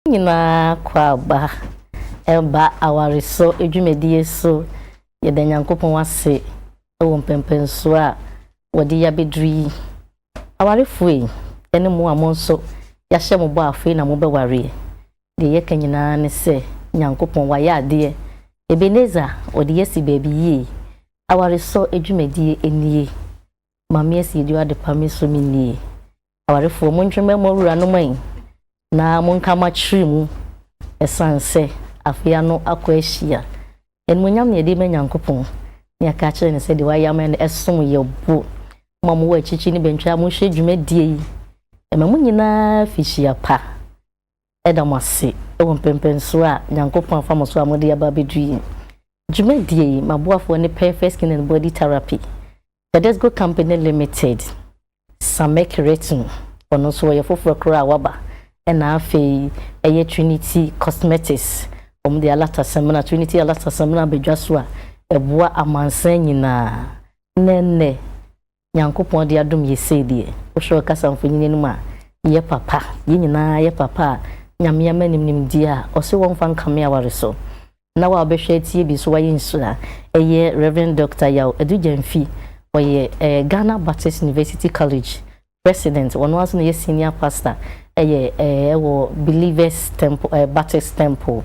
nyinaa kɔ aba ɛba awaresɔ adwumadie so. Yɛda Nyankopɔn ase wɔ mpɛnpɛnsoɔ a wɔde ya bɛduru yi. Awarefoɔ yi ɛne mo a mo nso yahyɛ mo bɔ afei na mobɛwareɛ. Deɛ yɛka nyinaa ne sɛ Nyankopɔn wayɛ adeɛ. Ebenezer ɔde yɛasi baabi yie. Awaresɔ adwumadie nie. Maame Asiedu Adepa Me so me nnie. Awarefoɔ montwe mmɛn mo awuranom ayi na monka mo akyere mu ɛsiane sɛ afe ano akɔ ahyia. Animuonyam na yɛde ma Nyankopɔn na yɛaka akyerɛ no sɛ deɛ wayɛ ama yɛn no ɛsom yɛ bo. Mo a mowɔ akyirikyiri ne bɛntwɛ a mohwɛ dwumadie yi, ɛma mo nyinaa afihyia pa Yɛda mo ase wɔ mpɛmpɛnsoɔ a Nyankopɔn afa mo so a mode aba abɛduru yi. Dwumadie yi, m'aboafoɔ ne Perfect Skin and Body Therapy, Tedesco Company Limited, Samek Retno, ɔno nso ɔyɛ foforɔ koraa a waba, ɛna afei ɛyɛ Trinity Cosmetics, wɔn de Alata Samina, Trinity Alata Samina aba dwa so a ɛboa amansan nyinaa. Na ɛnnɛ, Nyankopɔn de adom yɛ sei deɛ, wohwɛ ɔkasa mfonyin anim a, yɛ papa, yɛ nyinaa yɛ papa a Nyame ama nim nimdeɛ a ɔse wɔmfa nkame aware so. Na wo a wobɛhwɛ atie bi nso wayɛ nhyira. Ɛyɛ Rev. Dɔkta Yaw Adu Gyamfi, ɔyɛ ɛɛ Ghana Baptist University College President, wɔno ara nso na ɔyɛ Senior Pastor ɛyɛ ɛɛ ɛwɔ Believers Temple ɛɛ Baptist Temple,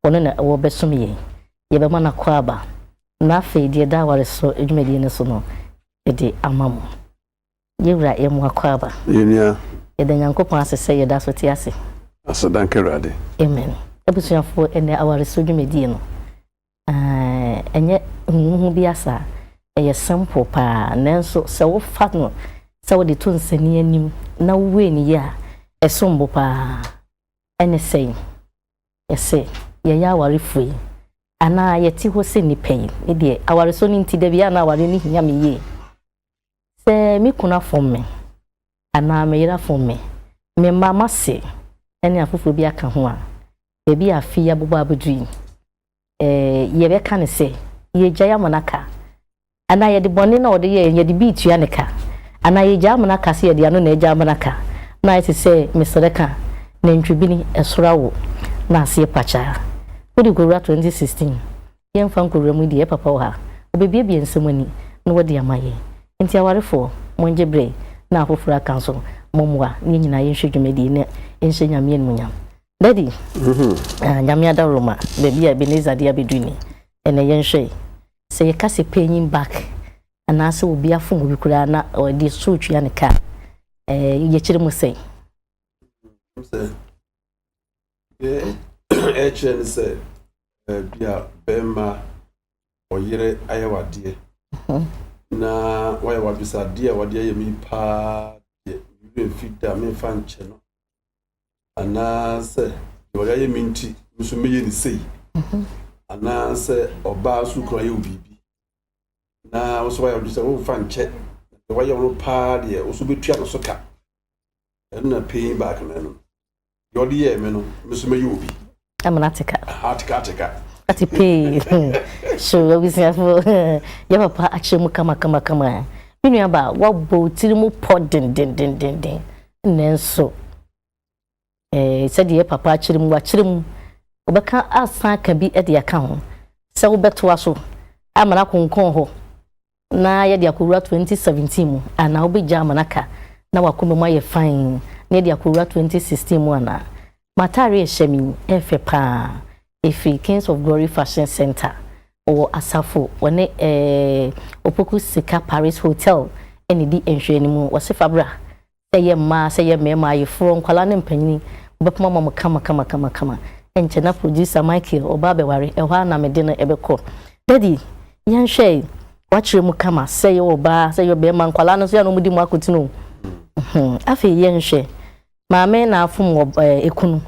wɔno na wɔbɛsom yɛn. yɛbɛma no akwaaba, na afei deɛ ɛda aware so dwumadie no so no, yɛde ama mo. Yɛn Wura, yɛ mo akwaaba. Yɛn nua. Yɛda Nyankopɔn ase sɛ yɛda so te ase. Aseda nka Awurade. Amen. Abusuafoɔ, ɛnnɛ aware so dwumadie no, eh, ɛnyɛ huhuhu bi asa. Ɛyɛ simple paa, nanso sɛ wofa no sɛ wode to nsani anim na wowei no yie a, ɛsom bo paa. Ɛne sɛn? Sɛ yɛyɛ awarefo yi, anaa yɛte hɔ sɛ nnipa yi, me deɛ awaresɔ no nti da biara na awareɛ no hia me yie. Sɛ me kunu afom me, anaa me yere afom me, me mma, m'ase ne afoforɔ bi aka ho a, baabi a afe yi abobɔ abɛduru yi, yɛbɛka no sɛ yɛgyae amena ka, anaa yɛde bɔne no a ɔde yɛeɛ no yɛde bi retua no ka, anaa yɛgyae amena ka sɛ yɛde ano na agya amena ka, na ayɛ te sɛ mesrɛ ka, nantwibini, ɛsoro awo, na aseɛ pakyaa. Wode kɔwura 2016, yɛmfa nkɔwura mu yi deɛ, yɛ papa wɔ ha, ɔbɛbuebue nsɛm ani na wadi ama yɛn. Enti awarefoɔ, mongye berɛ na afoforɔ aka nso mommoa na yɛn nyinaa yɛnhwɛ dwumadie yi na yɛnhyɛ Nyame animuonyam. Daddy, ah, nyame adaworo ma, baabi a Ebenezer de abɛduru ni. Ɛnɛ yɛnhwɛ yi, sɛ yɛka sɛ paying back, anaasɛ obi afom obi koraa na ɔde so tua ne ka, eh, yɛkyerɛ mu sɛn? ɛkyerɛ ne sɛ baabi a bɛrima ɔyere ayɛ wadeɛ mhm. na wayɛ wabisadeɛ a wadeɛ yɛ me paa deɛ mmerɛ mfi da memfa nkyɛ no anaasɛ deɛ ɔde ayɛ me nti nso mɛyɛ ne sei mhm. anaasɛ ɔbaa so kura yɛ wo biribi na wo nso wayɛ wode sɛ womfa nkyɛ deɛ wayɛ wo no paa deɛ wo nso bɛtua no so ka ɛno na paying back no ɛno deɛ ɔde yɛɛ me no me nso mɛyɛ obi Amana teka. Ah, teka teka. Ati pay. So we see for ya papa akyere mu kama kama kama. Me nua ba wa bo tiri mu pɔ den den den den den. Nanso eh sɛ deɛ papa akyere mu akyere mu wobɛka asan ka bi de aka ho sɛ wobɛtoa so amana konkɔn hɔ na yɛde akɔwura 2017 mu anaa wobɛgya ama no aka na w'akoma mu ayɛ fann na yɛde akɔwura 2016 mu anaa? M'ataare a ɛhyɛ me yi yɛ fɛ paa, ɛfiri Kings of Glory Fashion Centre wɔ Asafo, wɔne ɛɛɛ Opoku Sika Paris Hotel na ɛdi nhwɛanimu, wɔse fa bra Sɛ ɛyɛ mmaa, sɛ ɛyɛ mmarima, ayeforɔ, nkwadaa ne mpanin, wɔbɛpoma ama mo kamakamakama. Ɛnkyɛ na producer Michael, ɔbaa bɛware, ɛhɔ ara na me de no bɛkɔ. Daddy, yɛnhwɛ e, woakyerɛ mu kama, sɛ ɛyɛ ɔbaa, sɛ ɛyɛ ɔbarima, nkwadaa no nso yɛ a na wɔde mu akotene o. Afei yɛnhwɛ, maame na afom wɔ ekunu.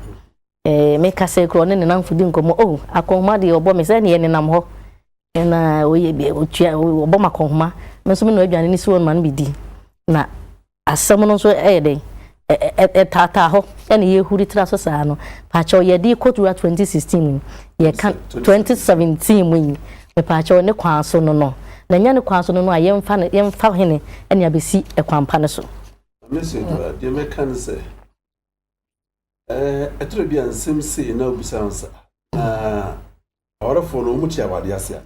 Eh, me kasa kura ɔne ne namfo di nkɔmmɔ. Oh, akɔnhoma deɛ ɔbɔ me sɛ neɛ nenam hɔ. Na ɔyɛ deɛ ɔtua ɔbɔ ma akɔnhoma. Me nso me no aduane ne suo no ma no bɛdi. Na asɛm no nso ɛyɛ dɛn? Ɛtaataa hɔ ɛna yɛhuri tra so saa no. Paakyɛw yɛde kɔ tura 2016 mu yi. Yɛka 2017 mu yi. Mepaakyɛw ne kwan so no no. Na nya ne kwan so no no a yɛmfa no yɛmfa hene ɛne abɛsi ɛkwan pa no so. Mese deɛ mɛka ne sɛ Ɛtɔ da bi a nsɛm sei na wobisa ho sɛ, Na awarefoɔ no wɔte awadeɛ ase anaa?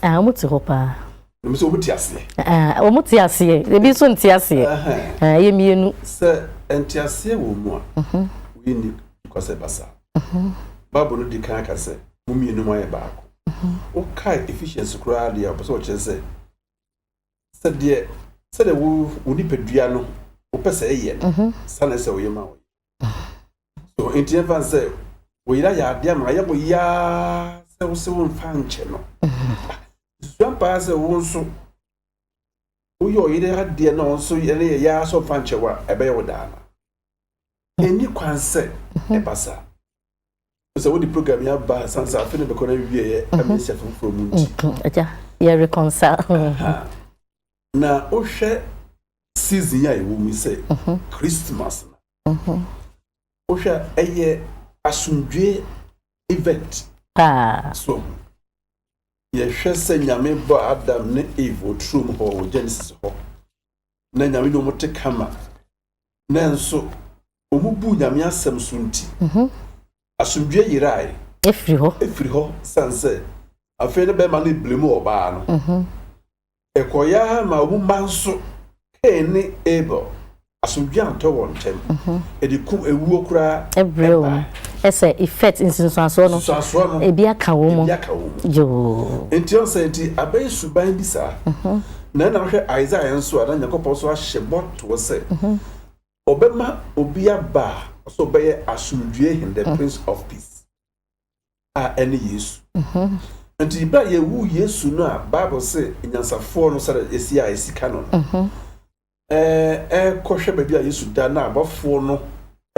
Ah, wɔn te hɔ paa. Na mo sɛ wɔn te aseɛ? Ah, wɔn te aseɛ. Ebi nso nte aseɛ. Ah, ɛyɛ mmienu. Sɛ ɛnte aseɛ wɔ mu a, mhm. wɔyɛ ni kɔ sɛ basa. Mhm. Bible no di kan aka sɛ mo mmienu mo ayɛ baako. Mhm. Wokae Ephesians koraa deɛ ɔpɛ sɛ ɔkyerɛ sɛ sɛdeɛ sɛdeɛ wo wo nipadua no wopɛ sɛ ɛyɛ no mhm. saa na ɛsɛ woyɛ ma wo so nti ɛmfa sɛ wɔyera yɛ adeɛ ama ayɛ mo yaa sɛ wo sɛ womfa nkyɛ no mhm. susua paa sɛ wo nso woyɛ ɔyere adeɛ na ɔnso yɛne yɛ yaa sɛ ɔmfa nkyɛ wo a ɛbɛyɛ wo daa no ɛni kwan sɛ mhm. ɛba saa Wohu sɛ wode program yi aba asan sɛ afe no bɛkɔ na awieɛ ɛma nhyɛ foforɔ mu nti. Agya, yɛ reconcile. Na wohwɛ season yi a yɛwɔ mu sɛ Christmas no, wohwɛ ɛyɛ asomdwoeɛ event. Paa. So yɛhwɛ sɛ Nyame bɔ Adam ne Eve wɔ turom hɔ wɔ Genesis hɔ, na Nyame ne wɔn te kama. Nanso, wɔbuu Nyame asɛm so nti, asomdwoeɛ yerae firi hɔ, ɛfiri hɔ sane sɛ afei ne bɛrima no blemu ɔbaa no. Ɛkɔeɛ ara maa wɔn mma nso, Kain ne Abel, asomdwoeɛ antɔ wɔn ntam, ɛde ko awuo koraa brɛɛ wɔn. Ɛsɛ effect, nsunsuansoɔ no, nsunsuansoɔ no, ebi aka wɔn mu, ebi aka wɔn mu. Yoo. Nti wɔn sɛ nti abɛyɛ suban bi saa. Na ɛna hwɛ Isaiah nso a na Nyankopɔn nso ahyɛ bɔ. toɔ sɛ, Ɔbɛma obi aba a ɔsɛ ɔbɛyɛ asomdwoeɛ hen, the prince of peace, a ɛne Yesu. Nti berɛ a yɛwu Yesu no a Bible se nyansafoɔ no sɛdeɛ ɛsi a ɛsi ka no no, ɛrekɔhwɛ baabi a Yesu da na abɔfoɔ no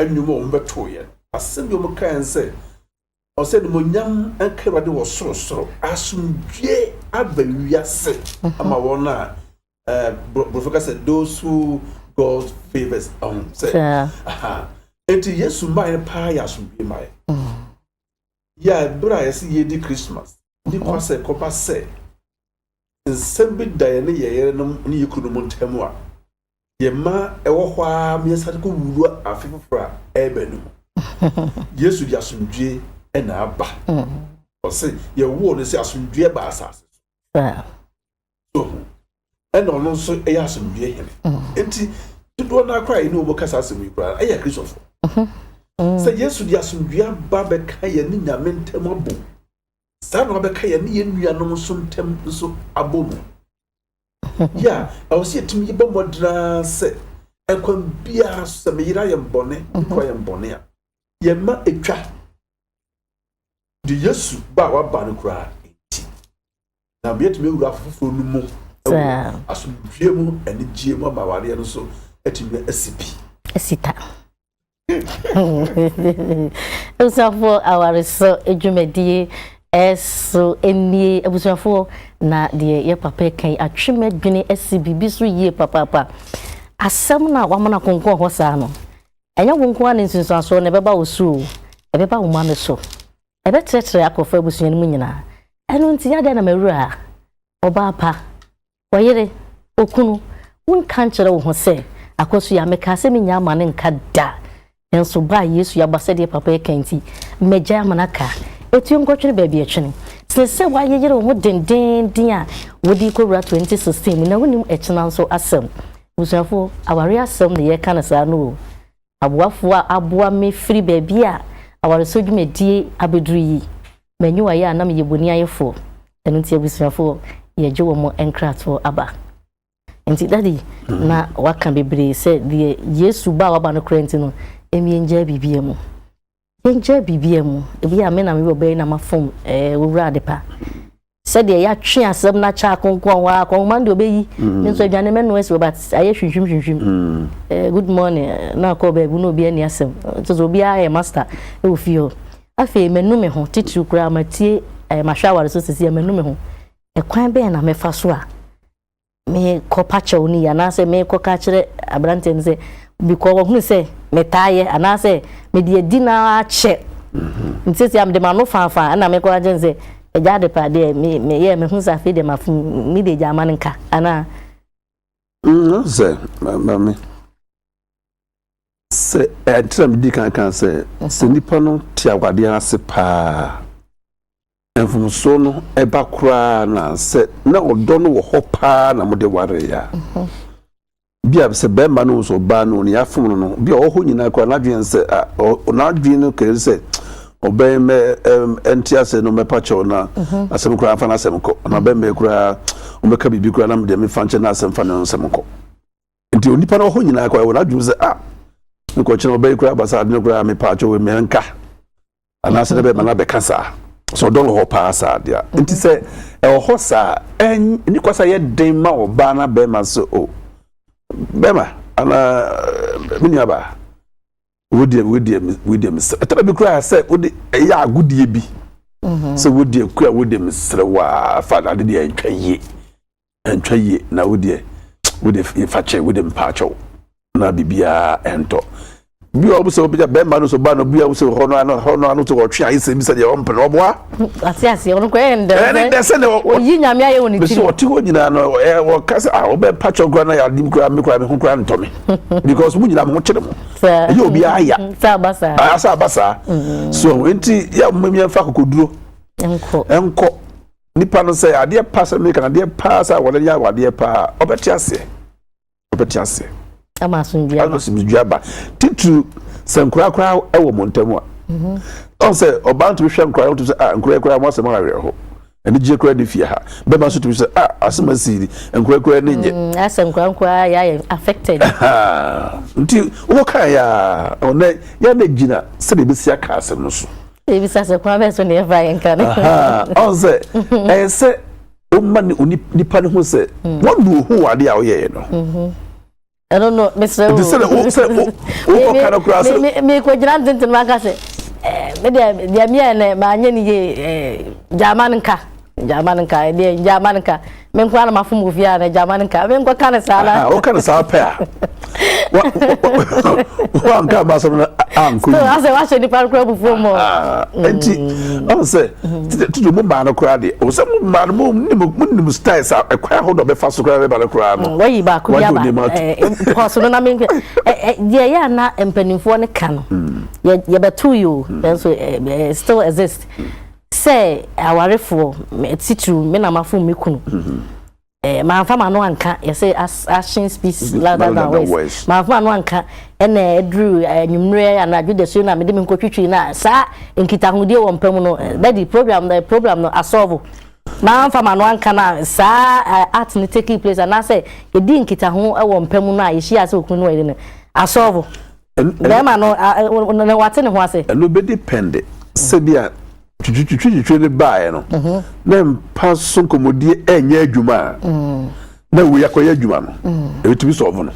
nnwom a wɔbɛtoeɛ no, asɛm bi wɔkaeɛ sɛ, Ɔsɛ animuonyam nka Awurade wɔ sorosoro, asomdwoe aba wiase ama wɔn a borɔfo ka sɛ those who God favors ɔho sɛ aha enti Yesu mmaeɛ no paa yɛ asomdwoe mmaeɛ mm. yɛ a ɛberɛ a yɛsɛ yɛdi Christmas ne kwa sɛ kɔba sɛ nsɛm bi da yɛ ne yɛyere no ne yɛ kunu mu ntam a Yɛn mma wɔ hɔ ara ma yɛsan de kɔ wura afe foforɔ a ɛreba no mu. Yesu de asomdwoeɛ na aba. Ɔse yɛwoo no sɛ asomdwoeɛ ba asase so. So ɛna ɔno nso yɛ asomdwoeɛ hene. Nti dodoɔ no akora yɛne wɔn kasa asɛm yi koraa ɛyɛ Kristofo. Sɛ Yesu de asomdwoeɛ aba bɛka yɛne Nyame ntam abom. Saa na wabɛka yɛne yɛn nuanom nso ntam nso abom. Yɛ a, ɛwɔ sɛ yɛtumi bɔ mmɔden ara sɛ ɛkwan biara so sɛ meyere ayɛ mbɔne, mekɔ yɛ mbɔne a, yɛma ɛtwa de Yesu ba a waba no koraa nti. Na yɛtumi awura afoforɔ no mu wɔ asomdwie mu, anigyeɛ mu ama awareɛ no so atumi asi pi. Asita. Abusuafoɔ awaresɔ dwumadie so nie abusuafoɔ na deɛ yɛ papa ɛka yi atwe m'adwene asi biribi so yie papaapa asɛm no a wamana konkɔn hɔ saa no ɛnyɛ wo nko a ne nsunsuansoɔ na ɛbɛba wo so o ɛbɛba wo ma no so ɛbɛtrɛtrɛ akɔfa abusua no mu nyinaa ɛno nti adɛn na mawura ɔbaa pa Ɔyere, okunu, wonka nkyerɛ wo ho sɛ, Akwasu yi a, mekaa sɛ merennya amane nka da. Nanso ba a Yesu aba sɛdeɛ papa yi ka nti, magyae amane aka. Etuo nkɔtwene baabi a ɛtwene. Sene sɛ woayeyere wo ho dendeenden a wode rekɔwura 2016 mu na wonnim ɛkyena nso asɛm. Abusuafoɔ, awareɛ asɛm na yɛreka no saa no o. Aboafo a aboa me firi baabi a awaresɔ dwumadie abɛduru yi, manyi wɔn ayɛ a na meyɛ boniayɛfoɔ, ɛno nti abusuafoɔ yɛgye wɔn nkratoɔ aba. Nti daddy na waka bebree sɛ deɛ Yesu ba a waba no koraa nti no, ɛmmiɛngyaa biribiara mu. Yɛngyaa biribiara mu. Ebi a me na me wɔ bɛyɛ na mafom ɛɛ owura adepa. Sɛdeɛ yɛatwe asɛm no akyɛ akonkɔn hɔ a kɔnhoma deɛ ɔbɛyi mm. me nso aduane mɛnoa si hɔ but ayɛ hwinhwim hwinhwim mm. eh, good morning eh, na akɔ baabi na obi ani asɛm nso sɛ obiara yɛ master wɔ fie hɔ afei manu me ho titiriw koraa matie eh, mahwɛ aware so sisi manu me ho ɛkwan bɛn na mɛfa so a mekɔpa kyɛw no yi anaasɛ mekɔka kyerɛ aberanteɛ no sɛ bikɔ wɔhunu sɛ metaa yɛ anaasɛ mede adi no ara kyɛ mhm. nti sɛ mede m'ano faafaa ɛna mekɔ agye no sɛ agya ade pa deɛ meyɛ mehu sɛ afei deɛ mafom mede agya ama no nka anaa mm, sɛ mame sɛ ɛnkyerɛ medi kankan sɛ sɛ nnipa no te awadeɛ ase paa Mfomsoɔ no ba koraa no a sɛ na ɔdɔ no wɔ hɔ paa na mode waree a, bi a sɛ bɛrima no sɛ ɔbaa no ne afom no no bi a ɔhɔ nyinaa koraa n'adwene sɛ n'adwene no kɛre sɛ ɔbɛn mɛ ɛnte asɛ no mɛpa kyɛw na mhm. asɛm koraa fa n'asɛm kɔ na bɛn mɛ koraa ɔmɛka biribi koraa na mede mefa nkyɛn na asɛm fa ne nsɛm kɔ. nti onipa no wɔ hɔ nyinaa kora wɔ n'adwene sɛ ah mekɔkyena ɔbɛyi koraa basa ade no koraa mepa akyɛ wɔ mmea nka anaasɛ dɛ bɛma no abɛka saa sɛ ɔdɔ no hɔ paa saa deɛ a nti sɛ ɛwɔ hɔ saa ɛni kwa sɛ yɛ den ma ɔbaa na bɛrima sɛ o bɛrima anaa me nua baa wodeɛ wodeɛ wodeɛ mesrɛ ɛtɛrɛ bi koraa sɛ wode ɛyɛ agodeɛ bi sɛ wodeɛ kura wodeɛ mesrɛ waa fa ade deɛ ntwa yie ɛntwa yie na wo deɛ wode fakyɛ wode mpaakyɛw na biribiara ɛntɔ bi a wɔsɛ wɔbɛgya bɛrima no so ba no bi a wɔsɛ hɔ no ano hɔ no ano te wɔtwe ayɛ sɛ bi sɛ deɛ ɔmpene ɔboa ase ase ɔno kɔ ɛyɛ ndɛm ɛne dɛ sɛ ne ɔyi nyame ayɛ wɔ ne tiri bɛsɛ ɔte hɔ nyinaa no wɔka sɛ ah wobɛ pakyɛ kora na yɛadim kora me kora me ho kora ntɔ me because mo nyinaa mo ho kyere mo ɛyɛ obi aya sɛ aba saa ah, sɛ aba saa mm. so nti yɛ mmamia mfa kokoduro nkɔ nipa no sɛ adeɛ pa sɛ meka adeɛ paa sɛ wɔde yɛ awadeɛ paa ɔbɛte aseɛ ɔbɛte aseɛ ama asomdua ama asomdua ba titiri sɛ nkura kura ɛwɔ mo ntɛm a mhm. ɔn sɛ ɔbaa ntumi hwɛ nkura ɔtumi sɛ a ah, nkura kura mo asɛm ayɛ hɔ anigye kura ne fie ha bɛma so tumi sɛ a ah, asɛm asi ni nkura kura ne nyɛ mm, asɛ nkura nkura yɛ ayɛ affected nti wɔka yɛ a ɔnɛ yɛ na gyina sɛdeɛ ebesi aka asɛm no so. Ebisa sɛ kwan bɛn so na yɛfa yɛ nka no. Ɔn sɛ ɛyɛ sɛ ɔma ne nipa ne ho sɛ mm. wɔnu ohu wɔ adeɛ a ɔyɛɛ no. Mm-hmm. Ɛno no mesrɛ wo. Sɛ o sɛ o o kɔka no koraa sɛ. Mi mi kɔ gyina ntenten ma ka sɛ ɛɛ mi deɛ deɛ mi yɛ nɛ maa nye ne yie ɛɛ gyaama no nka. Gyama no nka ɛdeɛ gyama no nka me nko ara mafom wɔ fie a na gyama no nka me nkɔ ka no saa na. Woka no saa pɛ a wanka ma asɛm no ankɔ yi. Asɛ wahyɛ nipa no kora bufuo mu. Nti ɔn sɛ tutu mu maa no kora deɛ ɔwɔ sɛ mu maa no mu nim mu nim style sa ɛkwan ahodoɔ bɛfa so kora bɛba no kora no. Wɔyi baako bi aba pɔso no na me deɛ yɛ ana mpanimfoɔ no ka no yɛbɛto yi o nanso still exist. sɛ awarefoɔ titiriw me na mafom me kunu eh, manfa m'ano anka yɛsɛ action speaks mm-hmm. louder than words manfa m'ano anka ɛna aduru anwummerɛ anadwo da suo no a mede me nkɔtwitwi no a saa nkitahodie wɔ mpa mu no eh, dadi program eh, program no asɔvo manfa m'ano anka no a saa eh, art no taking place anaasɛ yɛdi nkitaho wɔ mpa mu no a yɛhyia sɛ okunu no wɔ yere no asɔvo bɛrima no na wate ne ho ase. ɛno bɛ depend sɛ bi a twitwitwitwitwi ne baeɛ no mhm. na mpa so nkɔmmɔdie ɛnyɛ adwuma a mm. na wei akɔyɛ adwuma no mm. ɛbɛtumi sɔɔvo no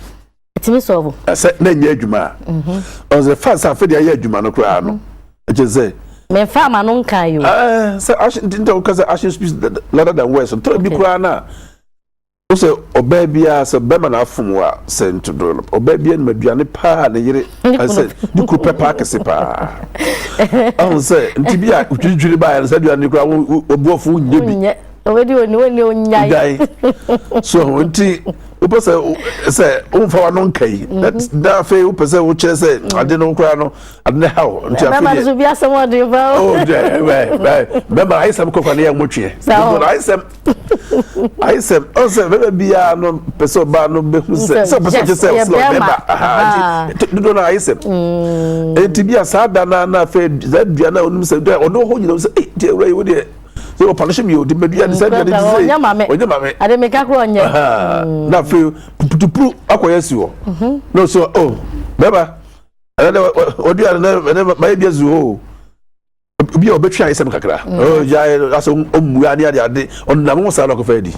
ɛtumi sɔɔvo ɛsɛ na ɛnyɛ adwuma a mhm. ɔsɛ fa sɛ afei deɛ ayɛ adwuma no koraa no mhm. ɛkyɛ sɛ mɛfa ama no nka yi o sɛ action ntinta woka sɛ action speaks louder than words ntɔn bi koraa no a Wosɛ ɔbaa biara sɛ bɛma no afom wo a sɛ ntodo no ɔbaa biara nim aduane paa a ne yere sɛ ne kunu pɛ paa kɛse paa ɔho sɛ nti bi a wotwiritwiri baeɛ no sɛ aduane no koraa wɔboɔfo nyɛ bi so ho nti wopɛ sɛ sɛ womfa wano nka yi mhm. na afei wopɛ sɛ wokyerɛ sɛ mhm. ade no koraa no ade no haw nti afeibɛma ayisɛm kɔfa ne yɛ nwotweɛ ayisɛm ayi sɛ ɔn sɛ bɛbɛ biara no pɛ sɛ ɔbaa no bɛ hu sɛ sɛ ɔpɛ sɛ ɔkyɛ sɛ ɔsɛ ɔbɛba ahaa ti dodo na ayi sɛ eti bi a saa da na na afɛ saa dua na onum sɛ dua ɔno ho nyina sɛ ee deɛ ewura yi wo deɛ sɛ ɔpɔn hyɛ mi o de bɛ dua de sɛ dua de ti sɛ ɔnyɛ maame ɔnyɛ maame ade mi kakra ɔnyɛ na afɛ putupuru akɔ yɛ si hɔ na ɔsɛ ɔ bɛba ɛnɛ dɛ ɔdua ɛnɛ ɛnɛ mayɛ dua zu hɔ o. obi a ɔbɛtwe ayɛ sɛm kakra mm. oh, gyae asɛ ɔmmua ne ade ade ɔnam ho saa na ɔkɔfa adi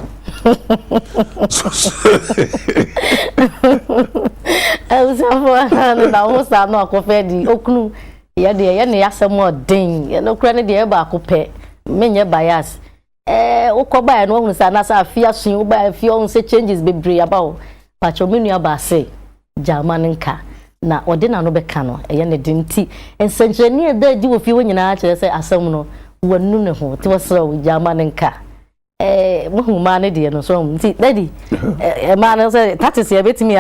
abusuafoɔ no nam ho saa na ɔkɔfa adi ɔkunu yɛdeɛ yɛne yɛasɛm ɔden yɛnokora no deɛ yɛ baako pɛ menyɛ bias ɛɛ wokɔ baeɛ no woahunu sɛ anaasɛ afe aso yi wobaeɛ afe ɔhu sɛ changes bebree aba o pakyɛ me nua baa se gyaama no nka na ɔde n'ano bɛka no ɛyɛ ne den nti nsɛnkyerɛnne a ɛda adi wɔ fie hɔ nyinaa kyerɛ sɛ asɛm no wanu ne ho nti wɔsrɛ wo gyaama no nka ɛɛ wohu maa no deɛ no so ɔhu nti dadi ɛmaa no sɛ tatis yɛbɛtumi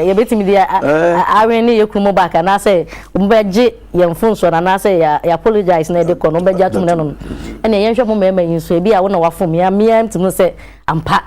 yɛbɛtumi de awen ne yɛ kunu mu baaka anaasɛ wɔbɛgye yɛn mfomsoɔ no anaasɛ yɛ yɛ apologize na yɛde kɔ no wobɛgye atom no no ɛnna yɛnhwɛ mo mmarima yi nso ebi a wo na wafom me mmea ntumi sɛ ampa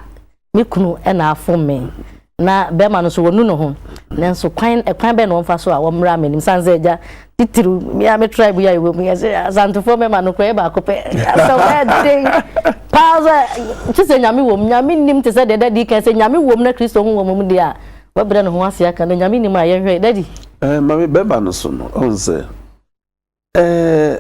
me kunu ɛna afom me na bɛrima no nso wɔnu ne ho nanso kwan ɛkwan bɛn na wɔmfa so a wɔmmra m'anim san sɛ agya titiriw mmea me tribe yi a yɛwɔ mu yɛ sɛ asantefoɔ mmarima no kora yɛ baako pɛ asɛ ɛden paa sɛ kye sɛ nyame wɔ mu nyame nim te sɛ deɛ dadi kan sɛ nyame wɔ mu na kristo ho wɔ mu deɛ a wabrɛ ne ho ase aka no nyame nim a yɛnhwɛ dadi Eh, ma me bɛba no so no, ɔn sɛ, eh,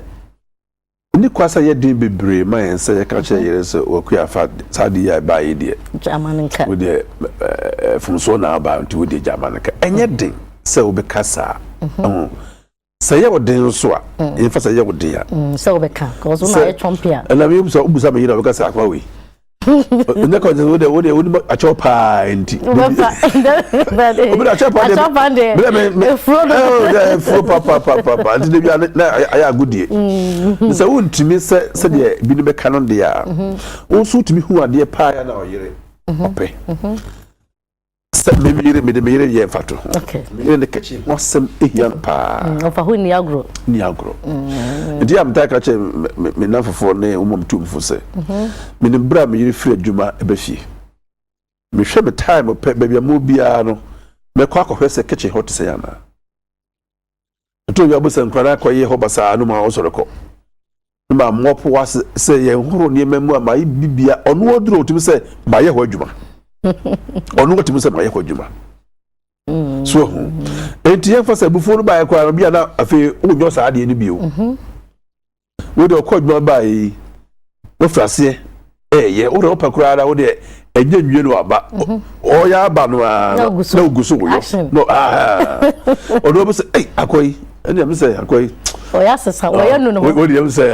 ɛni kwa sɛ yɛ den bebree ma yɛn sɛ yɛka kyerɛ yere sɛ wakua fa saa ade yi a ɛbaa yi deɛ. Gyama no nka. Wodeɛ eh, fomsoɔ na aba nti wodeɛ gyama no nka. Ɛnyɛ den sɛ wobɛka saa. Ɛho. Sɛ yɛ wo den nso a, yɛmfa sɛ yɛ wo den a. Sɛ wobɛka, kɔsɔ na yɛ twɔmpe a. Ɛna mi sɛ wobusa me yere a wɔbɛka sɛ akwa wei. onyɛ kɔnjɛ wo de wo de wo de akyɛw paa nti. wobɛfa wobɛde akyɛw paa de akyɛw paa de bɛrɛ mi mi efuro de ɛɛ efuro pa pa pa pa pa nti de bi a na ayɛ agodie sɛ wo ntumi sɛ sɛ deɛ bi ne bɛka no deɛ a wo nso tumi hu adeɛ paa yɛ na ɔyere ɔpɛ. Sɛ me yere, mede me yere yɛ mfatoho. Me yere ne kitchen ho asɛm hia no paa. Mm, ɔfa ho nni agorɔ. Nni agorɔ. Mm. Nti a metaa ka kyɛ me nnamfofoɔ ne wɔn mu tumfo sɛ, mhm. menim berɛ a me yere firi adwuma ɛbɛ fie. Mehwɛ me time pɛ, baabi a mo biara no, mɛkɔ akɔhwɛ sɛ kitchen hɔ te sɛ anaa. Ɛtɔ dwa mpo sɛ nkwadaa kɔ yɛ hɔ basaa no ma wɔsɔre kɔ. Ne ma mmɔpo ase sɛ yɛn horo nneɛma mu a ma bibia ɔno aduro otumi sɛ ma yɛ hɔ adwuma. Ɔno otumi sɛ ma yɛ hɔ adwuma. Mm. So ho. Enti yɛn fa sɛ bufuo no baayɛ koraa no bia na afei wonyɔ saa adeɛ no bio. Mm-hmm. Wei deɛ ɔkɔ adwuma baeɛ yi wafiri aseɛ ɛɛyɛ wo deɛ wopɛ koraa ara wo deɛ ɛnyɛ nwie no aba mhm. ɔyɛ aba no ara na ogu so woyɔ ɔno ɔbɛ sɛ ei akɔ yi ɛne ɛm sɛ akɔ yi ɔyɛ asesa ɔyɛ no no ho wɔde ɛm sɛ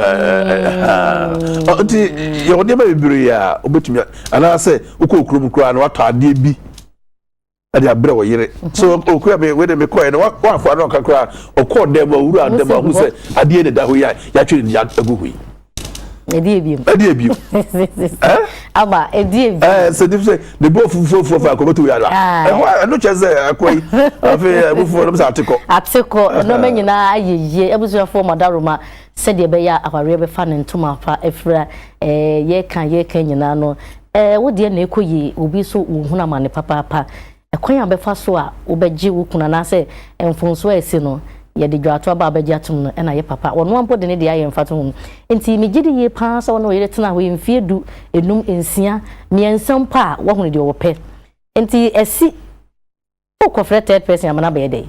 nti yɛwɔ nneɛma bebree a wobɛtumi anaasɛ wokɔ okurom koraa na watɔ adeɛ bi ɛde abrɛ wo yere so okura me wei de me kɔɛ no wafa no ɔka koraa ɔkɔɔ dɛm owura dɛm ahu sɛ adeɛ ne da hɔ yi a yɛatwe ne de agu ho yi ɛdi ebiem ɛdi ebiem ɛ aba ɛdi ebiem ɛ sɛ de sɛ de bɔ fufuo fufuo fa akɔbɛto yàrá ɛhɔ ɛno kyɛ sɛ akɔ yi afei abufuo nom sɛ atekɔ atekɔ ɛnɔmɛ nyinaa ayɛ yie abusuafoɔ madaroma sɛdeɛ ɛbɛyɛ awareɛ bɛfa ne ntoma fa afira ɛɛ yɛka yɛka nyinaa no Ɛɛ, wo deɛ na ɛrekɔ yie, obi nso rehunu amane papaapa. Ɛkwan a wobɛfa so a wobɛgye wo kunu anaasɛ mfomsoɔ a asi no, yɛde dwaato aba a wobɛgye atom no na ɛyɛ papa. Ɔno ara mpo de ne deɛ ayɛ mfatoho. Enti megye di yie pa ara sɛ wo ne wo yere tena hɔ yi mfeɛ du, nnum, nsia, mmiɛnsa mpo a, woahunu deɛ ɔpɛ. Enti ɛsi Wo kɔ frɛ third person ama no abɛyɛ dɛn?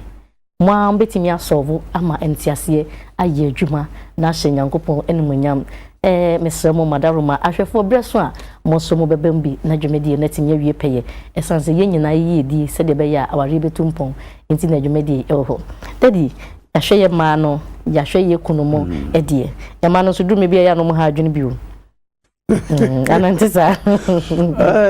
Mo ara mo bɛtumi a solve ama nteaseɛ ayɛ adwuma na ahyɛ Nyankopɔn animuonyam. Ɛɛ mesrɛ mo Madaroma ahwɛfoɔ berɛ so a mo nso mo bɛba mu bi na dwumadie no atumi awie pɛyɛ. Ɛsiane sɛ yɛn nyinaa yɛ yiedie sɛdeɛ ɛbɛyɛ a awareɛ bɛtu mpɔn nti na dwumadie yi ɛwɔ hɔ. Daddy yɛahwɛ yɛn mmaa no, yɛahwɛ yɛn kunu mo ɛdeɛ. Yɛn mmaa no nso duru mmerɛ bi a ɛyɛ a na wɔn ha adwene bio. anante saa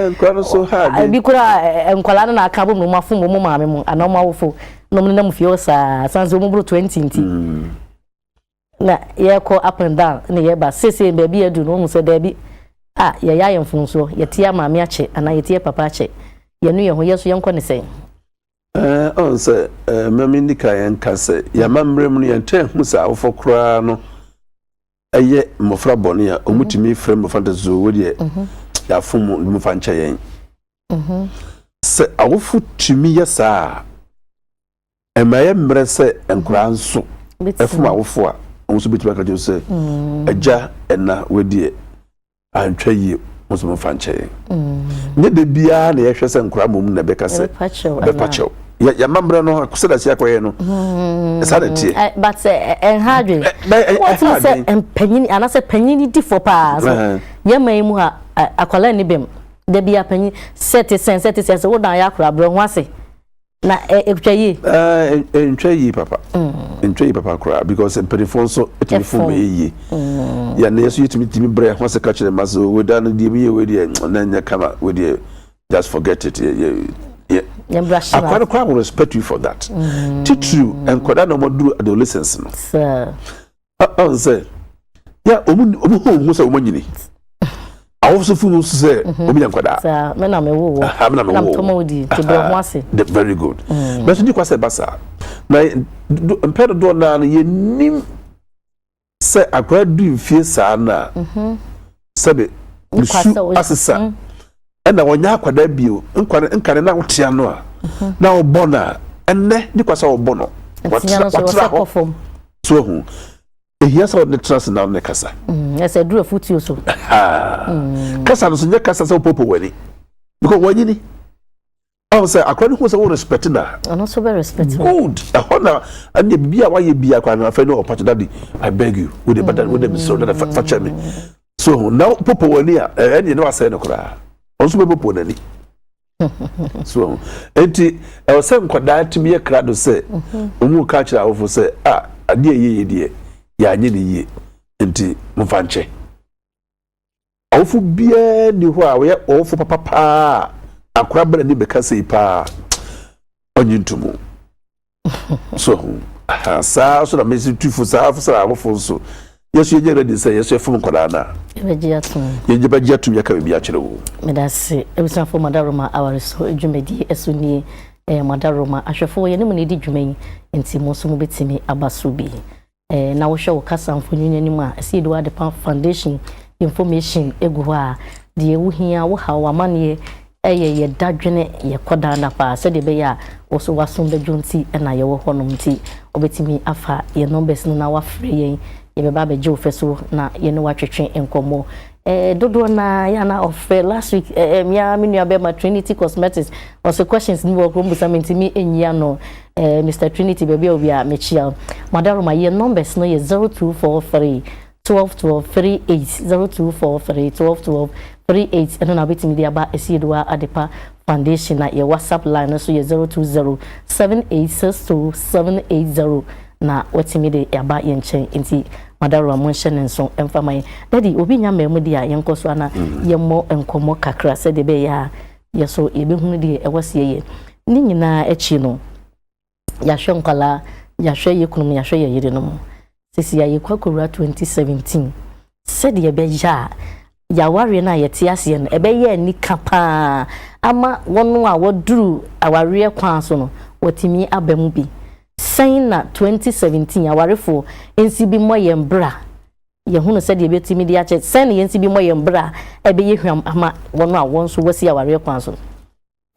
nkwa no so ha de ebi kura nkwadaa no na aka bom na wɔn afom wɔn maame mu anaa wɔn awofo na wɔn nenam fie hɔ saa san sɛ wɔn boro twenty nti na yɛkɔ up and down na yɛba sese baabi adu na wɔn sɛ daabi a yɛyɛ ayɛ mfonsoɔ yɛte yɛ maame akyɛ anaa yɛte yɛ papa akyɛ yɛnu yɛn ho yɛ so yɛnkɔ ne sɛn. ɛɛ ɔn sɛ ɛɛ mɛmi nika yɛn ka sɛ yɛn amammerɛ mu no yɛn twɛn ho sɛ awofo koraa no. Ɛyɛ mmɔfra bɔne a wɔn tumi frɛ mmɔfra de so wɔ deɛ yɛafom wɔn mu fa nkyɛ yɛn. Sɛ awofo tumi yɛ saa a, ɛma ɛyɛ mmerɛ sɛ nkwadaa nso fom awofo a wɔn nso bɛtumi aka kyerɛ sɛ, Agya, ɛna, wɔ deɛ antwa yie mo nso momfa nkyɛ yɛn mm. nyɛ da biara na yɛhwɛ sɛ nkora mmom na ɛbɛka sɛ bɛpa kyɛw yɛma mmerɛ no sɛda sɛ yɛakɔyɛ no mm. ɛsa na teɛ eh, but eh, eh, ɛnha adwen wotumi sɛ mpanyini anaasɛ panyini difoɔ paa so yɛma yi mu a akwadaa ni bɛm da biara panyin sɛ te sɛn sɛ te sɛn sɛ wodan yɛ akora berɛ ho ase Na ɛtwa yie? Ɛntwa yie papa. Ɛntwa yie papa koraa because mpanimfoɔ nso tumi fom bɛyɛ yie. Yɛn nso yɛtumi tumi brɛ ho ase ka kyerɛ mma sɛ wei da no deɛ meyɛ wei deɛ na ɛnyɛ kama wei deɛ just forget it. Akwa no koraa will respect you for that. Titiriw nkwadaa na wɔaduru adolescence no. ansɛ yɛ ɔmu ɔmu hɔ ɔmu sɛ ɔmu anyini awosofo mu nso sɛ ɔmu yɛ nkwadaa saa mɛ na mɛ wo wɔ ha mɛ na mɛ wo wɔ tɔmɔ odi ti brɔ ho ase very good mɛ mm. nso di kwa sɛ ba saa na mpɛ dodoɔ naa no yɛ nim sɛ akwadaa du nfie saa naa. sɛde nsu asesa mm. ɛna wɔnyɛ akwadaa bio nkwa no nkane na wotea no a mhm. na wɔbɔ no a ɛnnɛ ne kwa sɛ wɔbɔ no wɔtra hɔ so ahu ehia sɛ wɔde tena ase na wɔde kasa mm, ɛsɛ duro afutuo so mm. kasa no so nyɛ kasa sɛ wɔpɔpɔ w'ani because wɔnyini Ahu sɛ akora no hu sɛ wo respect na. Ɔno nso bɛ respect wo. Good. Ɛhɔ na ɛnna bibi a wayɛ bi akora no afɛ no ɔpa to daddy I beg you wo de bada wo de mesoro dada fa fa kyɛ me. So ho na popo wani a ɛnna yɛ ne wasɛ no koraa. Ɔno nso bɛ popo n'ani. So ho eti ɛwɔ sɛ nkwadaa tumi yɛ kra do sɛ ɔmu ka kyerɛ awofo sɛ a adeɛ yɛ yɛ deɛ yɛ anyɛ ne yie nti mo fa nkyɛ. Ɔwofo biara nni hɔ a ɔyɛ ɔwofo papa paa a akora bɛn ani bɛka sei paa ɔnye ntomu so ho saa so na mesi tu fo saa fo saa awofo nso yɛso yɛnyɛ ready sɛ yɛso yɛfom nkwadaa no a yɛnyɛ bɛgye atom yɛka biribi akyerɛ wo meda se abusuafoɔ madaroma aware so dwumadie ɛso nie ɛyɛ madaroma ahwɛfoɔ yɛne mu na ɛdi dwuma yi nti mo nso mobɛtumi aba so bi Na wohwɛ wo kasa mfonyin no anim a, ɛsɛ yɛde w'adepa foundation information gu hɔ a, deɛ wohia, wo haw, w'amanneɛ, ɛyɛ yɛ dadwene, yɛ kɔ daa nna paa sɛdeɛ ɛbɛyɛ a wo nso w'asom bɛdwo nti na yɛwɔ hɔ nom nti wobɛtumi afa yɛn numbers no na wafrɛ yɛn, yɛbɛba abɛgye wo fɛ so na yɛne wo atwetwe nkɔmmɔ. Dodoɔ no ara yɛ a na ɔfrɛ. Last week eh, me ara me nuabɛrima Trinity Cosmetics ɔsɛ questions bi wɔ hɔ mbusa me ntumi nyi ano. Eh, Mr Trinity baabi a obi a mekyia wo. Madaroma yɛ numbers no yɛ 0243 12 12 38 0243 12 12 38 ɛno na wobɛtumi de aba Asieduwa Adepa Foundation na yɛ WhatsApp line no so yɛ zero two zero seven eight six two seven eight zero na watumi de aba yɛn nkyɛn nti Madarua mo nhyɛ ne nso mfa ma yɛn Daddy obi nya mmaa mu deɛ a yɛnkɔ so ana yɛmmɔ nkɔmmɔ kakra sɛdeɛ ɛbɛyɛ a yɛ so yɛbɛhunu deɛ ɛwɔ seɛ yɛ ne nyinaa akyi no yɛahwɛ nkwadaa, yɛahwɛ yɛn kununom, yɛahwɛ yɛn yerenom. Sisi a yɛkɔ akɔwura 2017. Sɛdeɛ ɛbɛyɛ a yɛawareɛ no a yɛte aseɛ no, ɛbɛyɛ anika paa ama wɔn a wɔduru awareɛ kwan so no, wɔatumi aba mu bi. Sɛn na 2017 awarefoɔ nsi bi mmɔ yɛn bra? Yɛhunu sɛdeɛ yɛbɛtumi de akyɛ. Sɛn na yɛnsi bi mmɔ yɛn bra a ɛbɛyɛ hwam ama wɔn a wɔn nso wɔasi awareɛ kwan so no?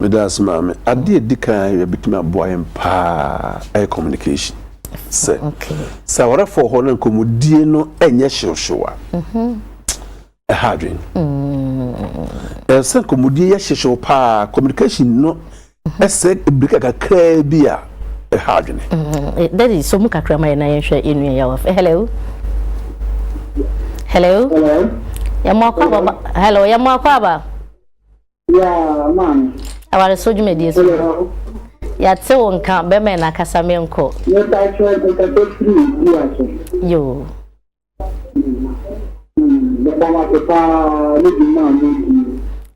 Meda ase maame. Adeɛ a ɛdi kan a ɛbɛtumi aboa yɛn paa yɛ communication. Sɛ sɛ awarefoɔ wɔ hɔ na nkɔmmɔdie no nyɛ hyewhyew a, mhm. ɛha adwene. Mm. Ɛsɛ sɛ nkɔmmɔdie yɛ hyewhyew paa communication no mhm. ɛsɛ birika kakraa bi a ɛha adwene. Mm. Eh, Dadi, so mu kakra ma yɛn na yɛnhwɛ yɛn nua yɛ wɔ fɛ. Hello. Hello. Hello. Yɛn mu akɔ aba. Hello. Yɛn mu akɔ aba. Awaresɛw dwumadie so no, yɛate wo nka bɛma yɛn akasa menkɔ. Yoo.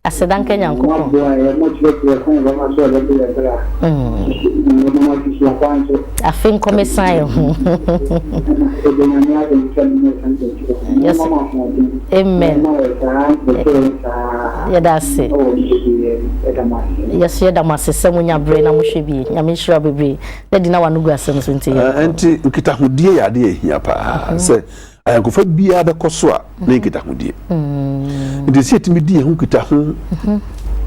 Aseda nka Nyankopɔn. Mm. Afe nkɔ me sign ho. Yes. Amen. Yɛda ase. Yes, yɛda mo ase sɛ mo nya bere na mo hwɛ bi. Nyame nhyira bebree. Daddy na wano gu asɛm so nti yɛ. Ɛnti nkitahodie yɛ adeɛ ɛhia paa sɛ Ayɔnkofa biara bɛkɔ so a ne nkitahodie. Nti sɛ yɛtumi di yɛn ho nkitaho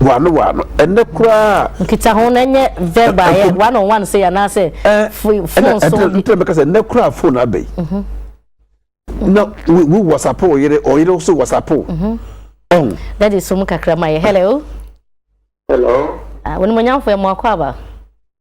waano waano ɛnɛ koraa. Nkitaho no ɛnyɛ verb a yɛ one on one sɛ anaasɛ phone so. Ɛnna ɛnna mɛka sɛ ɛnɛ koraa phone aba yi. Na wo wo whatsapp ɔyere ɔyere nso whatsapp. Ɔn. Dadi so mu kakra ma yɛ hello. Hello. Ah, wɔn mu nyamfo yɛ mu akɔ aba.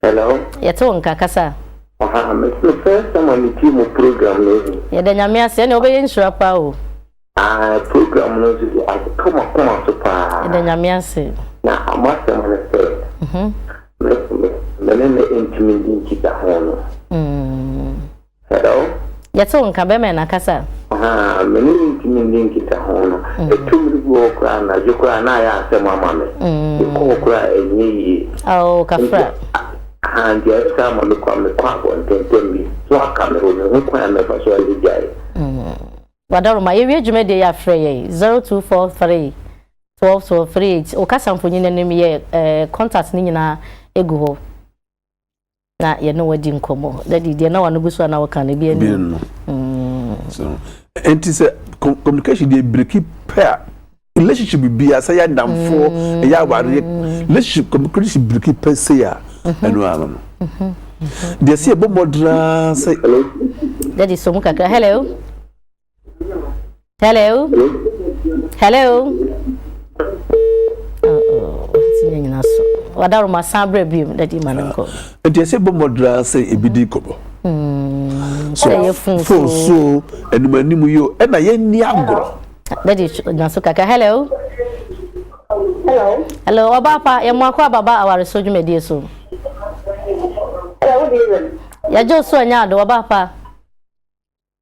Hello. Yɛte wo nka, kasa. Aha, me me first time a me tie mo program no ehu. Yɛda Nyame ase, ɛne wobɛyɛ nhyira paa o. Ae, program no nso de atɔ m'akoma so paa. Yɛda Nyame ase. Na m'asɛm ne sɛ, me me ne no ntumi nni nkitaho no. Mm. Hello. Yɛte wo nka, bɛrima na kasa. Ahaa, me ne no ntumi nni nkitaho no. Ɛtɔ mmere bi wɔ hɔ koraa a, anadwo koraa a, na ayɛ asɛm ama me. Mekɔ hɔ koraa a, ɛnyɛ yie. Aww, Kafra. Ahaa, nti ayɛ saa ma me kɔ a, mekɔ abɔnten tɛm bi. So aka me hɔ? Menhu kwan a mɛfa so ayɛ gyae. Wadaroma, yɛwie dwumadie yi a, frɛ yɛn, 0243 12 12 38. Wo kasa mfonini no, meyɛ contact no nyinaa gu hɔ. na yɛne wo adi nkɔmmɔ dadi deɛ na wano gu so a na woka no ebi ani no ɛnti sɛ communication deɛ biriki pɛ a relationship bia sɛ yɛ adamfoɔ mm. ɛyɛ awareɛ relationship communication biriki pɛ sei a mm-hmm. ɛno ano no mm-hmm. deɛ sɛ yɛbɔ mmɔdenaa sɛ dadi so mu kakra hello Hello? Hello? wadaroma san berɛ biom na di ma no nkɔ nti ɛsɛ bɔ mmɔdra sɛ ebi di nkɔmmɔ hmm, so fon so anim anim yi o ɛna yɛnni agorɔ dadi na so kaka hello hello hello ɔbaa pa yɛn mu akɔ ababa aware so dwumadie so yɛgye so anya ado ɔbaa pa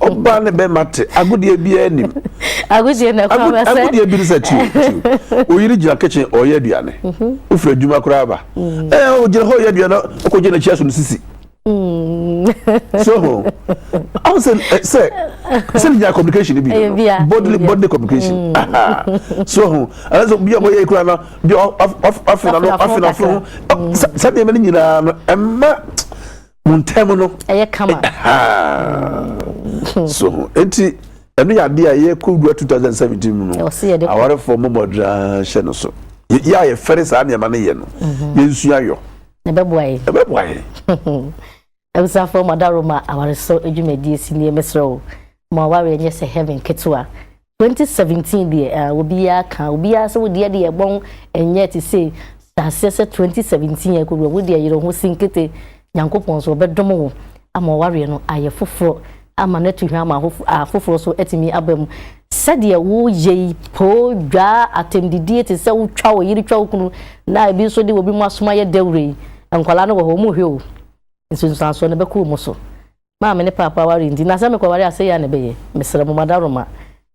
ɔbaa ne bɛrima te agodeɛ biara anim agodeɛ na kwan bɛ sɛ agodeɛ bi sɛ tiw tiw oyiri gyina kitchen ɔyɛ aduane ofiri adwuma koraa ba ɛɛ ogyina hɔ ɔyɛ aduane ɔkɔ gyina kyia so no sisi so ho ɔn sɛ sɛ sɛ gyina communication bi no bodily bodily communication so ho ɛna sɛ bi a ɔyɛ ekura na bi ɔfina no afina fo sɛ deɛ ɛmɛ ne nyinaa no ɛma. mo ntɛm no ɛyɛ kama hmm. so ho nti ɛno yɛ adeɛ a yɛkɔ wura 2017 mu no awarefoɔ mmɔbɔdraa hyɛ no so yɛ a yɛfɛre saa nneɛma no yɛ no mhm. yɛnsua yɔ ɛbɛboa yɛ ɛbɛboa yɛ abusuafoɔ mɔdaro ma awaresɔ adwumadie si nie mesrɛ o ma awareɛ nyɛ sɛ heaven ketewa Twenty seventeen deɛ ah obiaa ka obiaa sɛ wodeɛ deɛ ɛbɔn ɛnyɛ te sei saseɛ sɛ twenty seventeen yɛ kɔduru a wodeɛ yere ho si nkete Nyankopɔn so ɔbɛdom wo ama ɔwareɛ no ayɛ foforɔ ama no atu hwɛ ama afoforɔ so atumi aba mu sɛdeɛ wo yɛ yi poo dwaa atɛmdidie te sɛ wo twa wo yere twa wo kunu na ebi nso de obi mu asoma yɛ dawuro yi nkwadaa no wɔ hɔ ɔmo hwɛ o nsunsuansoɔ no bɛkɔ ɔmo so maa me ne Paapa ware nti, na sɛ mekɔware a, sɛyɛ a na ɛbɛyɛ. Mesrɛ mo, mo adaworoma,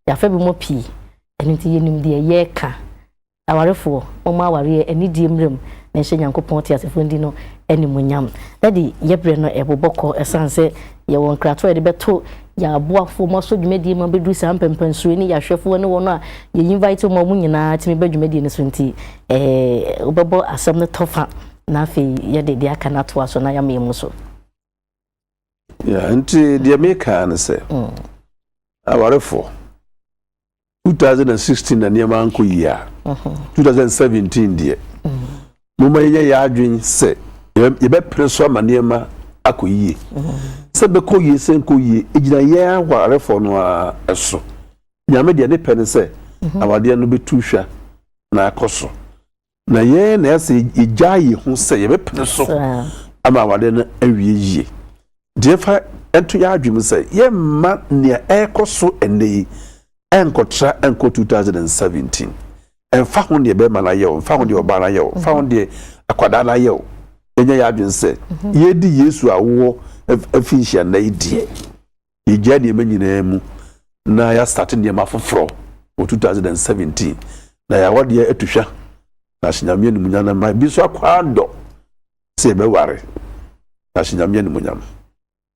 yɛafa bi mu pii, ɛno nti yɛnim deɛ yɛreka. Awarefoɔ, momma awareɛ anidie mmra mu na ɛnhyɛ Nyankopɔn teasefoɔ no din no animuonyam. Daddy, yɛn berɛ no rebobɔ kɔ ɛsiane sɛ yɛwɔ nkratoɔ a yɛde bɛto yɛn aboafoɔ a wɔasɔ dwumadie ma bɛduru saa mpɛmpɛnsoɔ yi ne yɛn ahwɛfoɔ ne wɔn a yɛ invite wɔn a wɔn nyinaa tumi ba dwumadie no so nti, eh, wobɛbɔ asɛm no tɔfa na afei yɛde deɛ aka no atoa so na yɛama yɛn mu so. Yeah, nti deɛ meka ne sɛ mm. awarefo 2016 na nneɛma nkɔ yie a 2017 mhm. deɛ mm. moma yɛnyɛ yɛ adwen sɛ yɛbɛpere so ama nneɛma akɔ yie mm. sɛ bɛkɔ yie sɛ nkɔ yie ɛgyina yɛ awarefo no a ɛso nyame deɛ ne pɛ ne sɛ mhm. awadeɛ no bɛtu hwa na akɔ so Na yɛn na ɛsɛ yɛgyaa yɛn ho sɛ yɛbɛpene so ama awadeɛ no awie yie. Deɛ fa ɛnto yɛn adwene mu sɛ yɛmma nea ɛrekɔ so ɛnnɛ yi ɛnkɔtra ɛnkɔ 2017. Ɛmfa ho deɛ bɛrima no ayɛ o, ɛmfa ho deɛ ɔbaa no ayɛ o, ɛmfa ho mhm. deɛ akwadaa no ayɛ o. Yɛnyɛ yɛn adwene sɛ mhm. yɛdi Yesu awoɔ afinhyia nnɛ yi deɛ. Yɛgyaa nneɛma nyinaa mu na yɛastate nneɛma foforɔ wɔ 2017 na yɛawɔ deɛ atu hwa na ahyɛ Nyame animuonyam na mma bi nso akɔ adɔ sɛ yɛbɛware na ahyɛ Nyame animuonyam.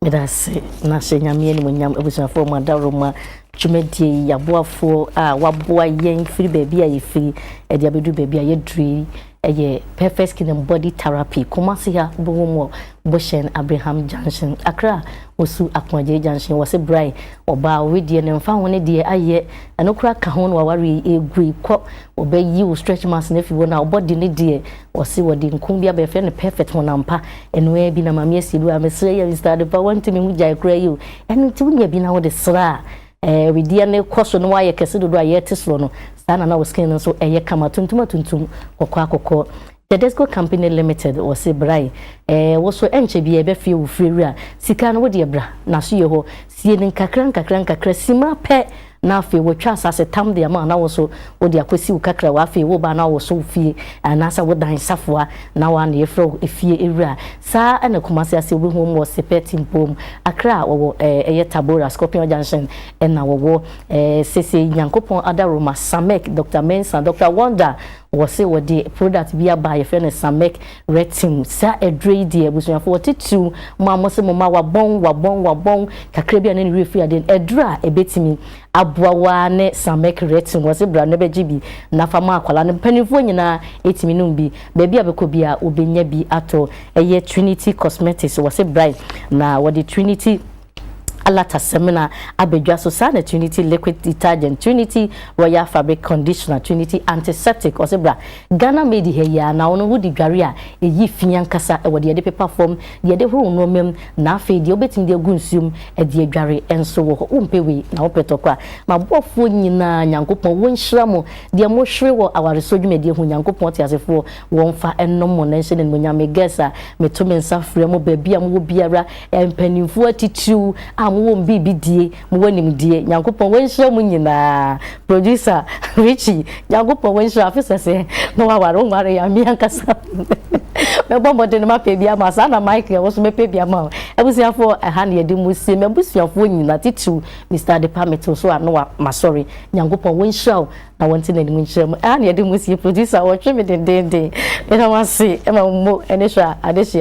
Meda ase na ahyɛ Nyame animuonyam abusuafoɔ mu adaworoma dwumadie yi aboafoɔ a waboa yɛn firi baabi a yɛfiri ɛde abɛduru baabi a yɛduru yi. Ɛyɛ Perfect Skin and Body Therapy, Kumasi ha bɔ wɔn wɔ Bohyɛn Abreham Junction, Accra Osu Akoagyei Junction, wɔse brae ɔbaa owe deɛ no mfa ho ne deɛ ayɛ ɛno koraa ka ho na wawareɛ yi ɛgui kɔ wɔbɛ yi wo stretch marks no afi hɔ na ɔbɔ de ne deɛ wɔse wɔde nkum bi aba yɛfrɛ no perfect honam pa ɛno ara bi na maame asie bi wɔ a mesrɛ yɛ Mr. Adepa wantumi ho gyae koraa yi o ɛno nti wonya bi na wode sra a Ɛɛ, wedeɛ no rekɔ so na wayɛ kɛse dodo a yɛte soro no, saa na na wo skin no nso yɛ kama, tuntum atuntum, kɔkɔɔ akɔkɔ. Tedesco Company Limited, wɔse bra yi, ɛɛ, wo so ɛnkyɛ biara ɛbɛfeɛ wo firi awura, sika no wodeɛ bra, n'asoyɛ hɔ, sie no nkakra nkakra nkakra, simma pɛ na afei wɔatwa asase tam de ama wo na wo nso wode akɔsi wo kakrawa, afei woreba a na woso wo fie anaasɛ wo dan safoa na wo a na yɛfrɛ wo efie awura. Saa ara na Kumasi ase wɔ bi hom wɔ Sepɛ Timpom, Accra a wɔwɔ eh ɛyɛ Tabora, Scorpion Junction na wɔwɔ eh sesei Nyankopɔn Adaroma, Samek, Doctor Mensah, Doctor Wonder wɔse wɔde product bi aba a yɛfrɛ no Samek Retin, saa aduro yi deɛ abusuafoɔ titiriw mo a mose mo mma wabɔn wabɔn wabɔn kakra bi a na ne werɛ firi adeɛ no, aduro a ɛbɛtumi aboa wo ara ne Samek Retin, wɔse bra na bɛgye bi na fa ma akwadaa no. Mpanimfoɔ nyinaa ɛtumi nom bi, baabi a bɛkɔ biara wɔbɛnya bi atɔ. Ɛyɛ Trinity Cosmetics, wɔse brae na wɔde Trinity Alata Semina aba dwa so, saa na Trinity Liquid Detergent, Trinity Royal Fabric Conditioner, Trinity Antiseptic, wɔse bra Ghana made ha yi ara na ɔno wode dware a ɛyi fi ankasa wɔ deɛ yɛde pepa fam, deɛ yɛde horo nnoɔma mu, na afei deɛ wobɛtumi de agu nsuo mu de adware nso wɔ hɔ. Wompɛ wei na wopɛ tɔkwa. M'abɔfoɔ nyinaa Nyankopɔn wɔnhyira mo, deɛ mohwere wɔ awaresoɔ dwumadie ho Nyankopɔn ɔteasefoɔ wɔmfa nnom mo na nhyɛ no animuonyam. Me guests a meto me nsa frɛ mo baabi a mowɔ biara, mpanimfoɔ atitiriw a mowɔ wɔn biribi die, Mo wɔ nimdie nyankopɔn wɔ nhyira mo nyinaa producer Richie nyankopɔn wɔ nhyira afe sɛsɛ na waware wo nware ya me ankasa mɛbɔ mmɔden ma pɛ bi ama saa na Mike ɛwɔ so mɛpɛ bi ama wo abusuafoɔ ɛha na yɛde mo sie m'abusuafoɔ nyina titiriw Mr Adepa metew so a na wa masɔre nyankopɔn wɔ nhyira wo na wɔnte n'anim nkyerɛ mu ɛha na yɛde mo sie producer wɔtwe me dendenden meda mo ase ɛma mo ɛne hwɛ a adehye